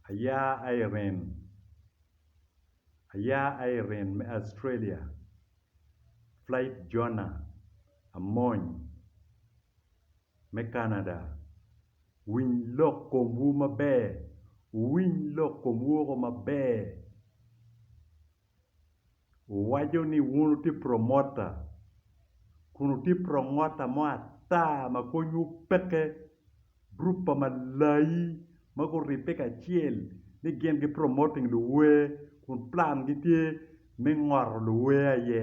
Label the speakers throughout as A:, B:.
A: Aya Irene, Aya Irene me Australia, Flight Jonah Amony me Canada, Winy lok komwu maber, wuwiny lok komwu woko maber. Wuwaco ni wun wutye promota, kun wutye promota mo ata ma konywu peke. Gurup pa malayi ma guribbe kacel ni gin gi promoting luwer kun plangi tye me ngoto luwer aye.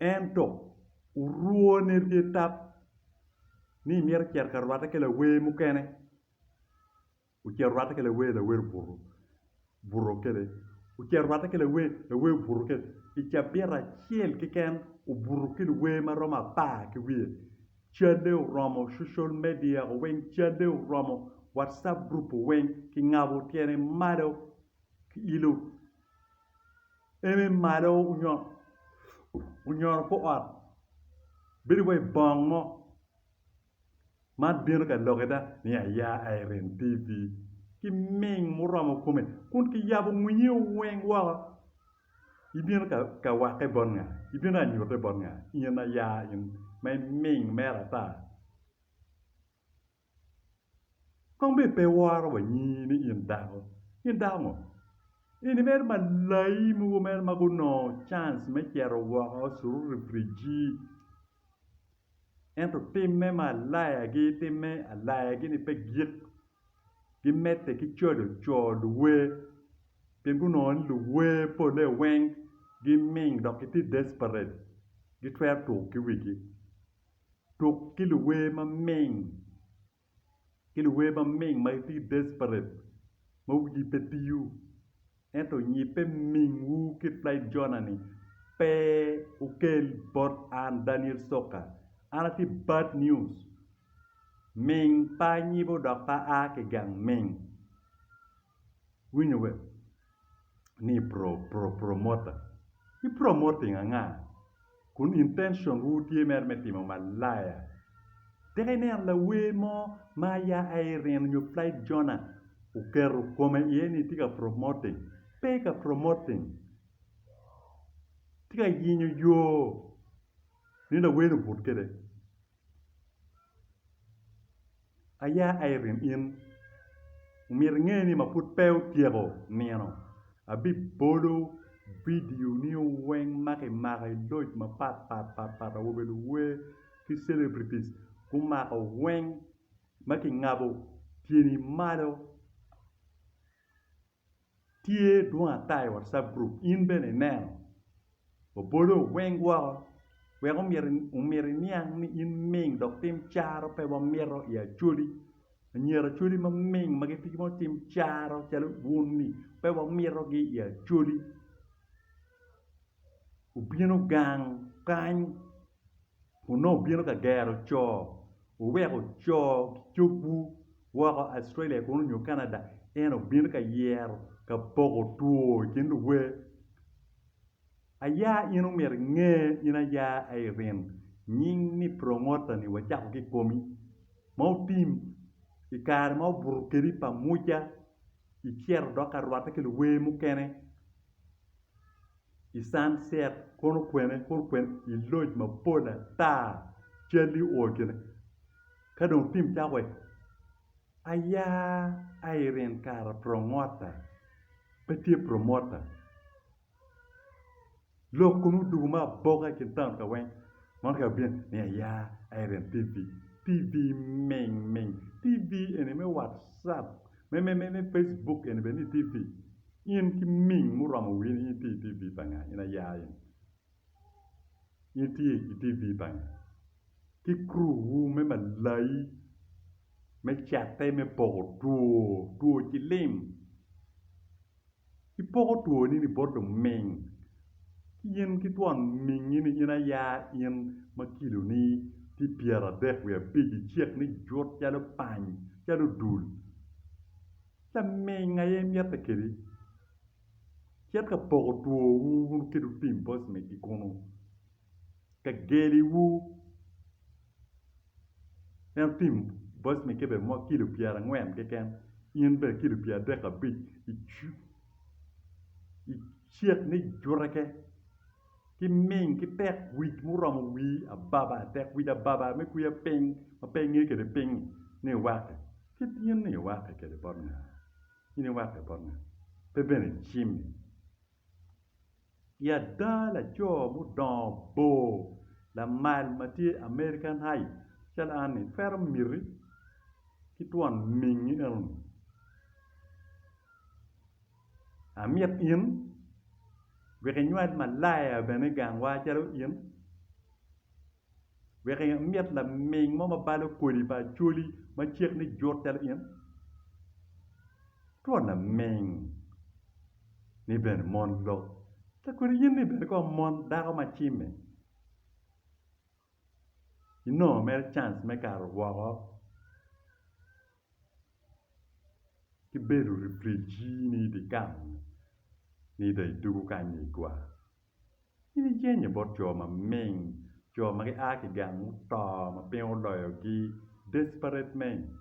A: Ento, orwone rye tap ni i myero ecit ka rwatte ki lawer mukene. Ocito orwatte ki lawer, lawer obuto buto kede. Ocito orwatte ki lawer, lawer obuto kede. I cabit acel keken obuto ki luwer ma romo apar ki wiye. Calle oromo cucol media o weng, calle oromo watcap gurup o weng. Kingabo tyene malo, kiilo. eme malo onyoro kor ot bedo wai bong mo man bino ka lokke da ni aya irem TV ki ming muromo kome kun ki yabo winyi weng woko ibino ka wakke bot nga? ibino ka nyutte bot nga? in aya in ma iming mere ata Kong bed pe iworo wa nyingi ni in dako, in dako ngo? In imito malai mogo mere ma gunongo cans me cito woko cururi brijji. Ento timme ma alayagi, timme alayagi-ni pe gik, gimedde ki cwalo co luwer pien gunongo ni luwer polle weng giming dok gitye desperate, gitwero tuk ki wigi. Tuk ki luwer maming ki luwer maming ma itye ki desperate ma wigi pe tiyo ento nyibbe mingwu ki Flight Jonah ni pe okel bot an Daniel Soka an atye bad news ming pa anyibo dok pa aa ki gang ming Iwinyo be ni pro pro promoter i promoting anga kun intention wu tye mere me timo malaya. Tika ineno lawer mo ma aya Irene nyo Flight Jonah oketo kome iye ni tye ka promoting, pe ka promoting tye ka yenyo yo ni lawer ni obut kwede. Aya Irene in, omyero inge ni ma pud pe otyeko nino abibolo vidio ni weng ma kimako i loc mapat pat pat pat awobe luwer ki celebrities gumako weng ma kingabo tyeni malo. tye dwong ata i watcap group in bene ineno obolo weng woko wek omyero iniang ni in ming dok tim caro pe wamito i Acholi anyira Acholi ma ming ma gitye ki mogo tim caro calo wun ni pe wamitogi i Acholi obino gang kany. Onongo obino ka gero co, wuweko co ki cogwu woko Australia kunu nyo Canada, en obino ka yero ka poko two i kin luwe. Aya in omyero inge, in aya Irene, nying ni Prongota ni wacako ki komi, ma otim i kare ma obuto kedi pa Muca, icito dok ka rwatte ki luwe mukene, i sunset kono okwene kono okwene i loj mapol ata calli o i kine ka dong tim cako wai aya Irene kara prongota pe tye promota lok kono odwogo ma aboka i kin taun ka weng mono ka bino ni aya Irene TV TV ming ming TV eni me watcap me me me Facebook eni bene ni TV In ki ming muromo wi in itye i TV pa nga? In aya in itye i TV pa nga? Ki crew wu me malai me catte me poko two, two cilim ipoko two ni ni bot luming ki in ki twon mingi ni in aya in ma kilo ni tye pyera dek wiye abic icek ni jut calo pany calo dul Laming aye mitte kedi. Cit ka poko twowu wun ki lutim poc me ki kunu, ka geliwu. En otim poc me kebe mo kilo pyera ngwen keken, in bene kilo pyera dek abic i cit ni jureke ki ming ki tek wic muromo wii ababa, tek wic ababa me kwiya ping ma pe inge kede ping ni iwaki. Kit yen-ni iwakke kwede bot nga? In iwakke bot nga? Pe bene icimmi? I ada, laco mudongo bor lamal ma tye i American Heights calo an-ni twero miti ki twon mingi enoni. Amit in wek inywal malaya bene i gangwa calo in. wek imit laming mo ma balo kodi pa Acholi ma cek ni jut calo in? Twon laming ni bene mon lok ka kodi in ni bene kong mon dako ma cime inongo mere cans me kato woko ki bedo refrigee ni idye kal ni dong idwogo kany ni igwar. In ijenyo bot jo maming, jo ma gia ki gang muto ma piny oloyogi, desperate men.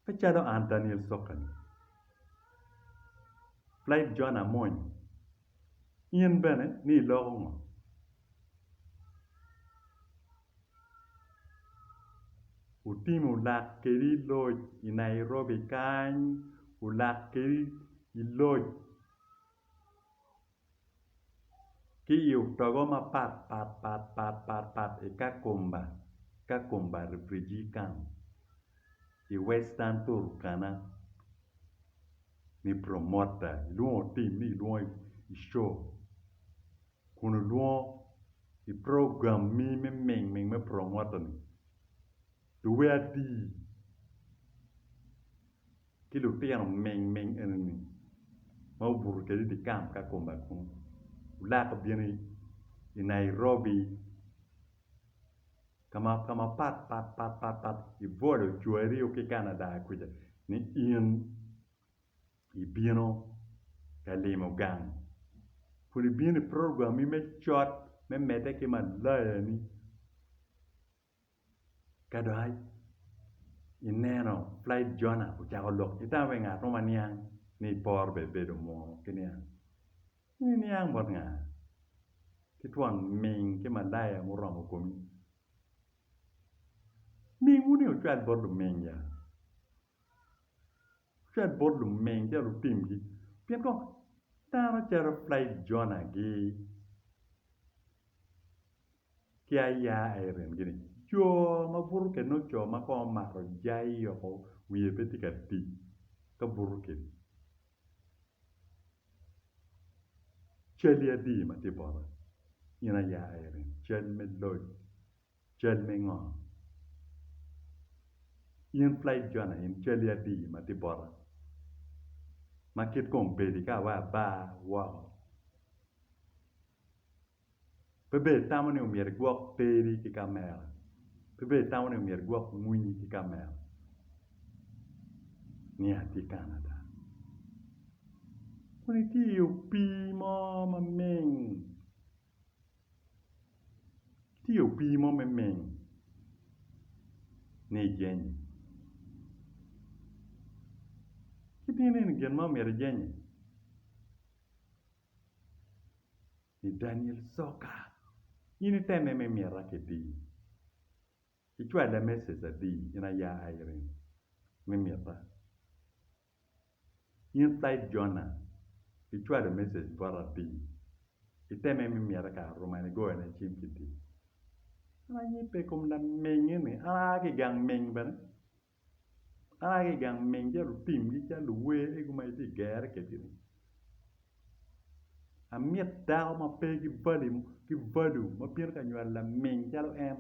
A: Pe calo an Daniel sokani, Plaid John Amony, in bene ni iloko ngo? otimo lak kedi loc i Nairobi kany olak kedi loc ki i otogo mapat pat pat pat pat pat i Kakumba Kakumba refugee camp i western Turkana me promoter ilwongo team ni ilwongo i show kun olwongo i program mi me ming ming me promota ni luwe ati ki lutino ming ming eni ni ma obuto kede i di kamp ka kome kunu wulak obino i Nairobi ka ma ka ma pat pat pat pat pat ibwolo cwari ki Canada kuca ni in ibino ka limo gang kun ibino i program-mi me cot me medde ki malayani ka dok ineno pulayi Jona ocako lok ki tam i wi ngat mo ma niang ni iporo bene ibedo munu ki niang in iniang bot nga? ki twon ming ki malaya muromo komi mingwu-ni ocwal bot luming ya. cwet bot lumeng ca lutimgi pien kong dano calo Plaid-Jona-gi ki aya Aaron-gi ni jo ma buto kwede nongo co ma kong omato jai woko wiye pe tye ka tic ka buto kwede. Calli adi ma tye bota in aya Aaron, cal me loc Cal me ngo? In Flaig Jona in cali adiyi ma tye bota, ma kit kong bedi ka awayo abar woko. Pe bed itamo ni omyero igwok teri ki kamera, pe bed itamo ni omyero igwok mwinyi ki kamera ni atye Canada. Kun itye i opii mo maming. tye i opii mo me ming ni ijenyo ci tye nini gin ma omyero ijenyo i Daniel coka in iteme ma imita kiti icwale message adi in aya Irene me mita. In Said Jona, icwalo message bota atir. Iteme me mita kare oromo en igoyo ne cim ki di. An ayipe ikom lameng eni, an aa ki gang meng bene. An aa ki gang meng ca lutim gi ca luwer egu ma itye gere kwedgi ni. Amit dako ma pe ki value mo ki value ma bino ka nywalo lameng calo en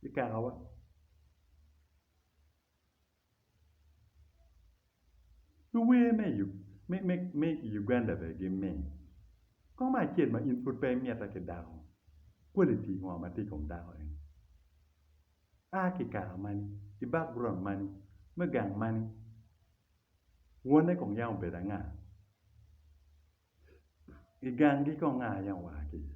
A: ikakawa. Luwer me i Uganda bene gimit. Kong me acel ma in pud pe imitte ki dako, quality ngo ma tye i kom dako eni? A ki i kaka mani, i background mani, me gang mani, wonne kong yam obedo anga? I gangi kong nga yam oa ki iye?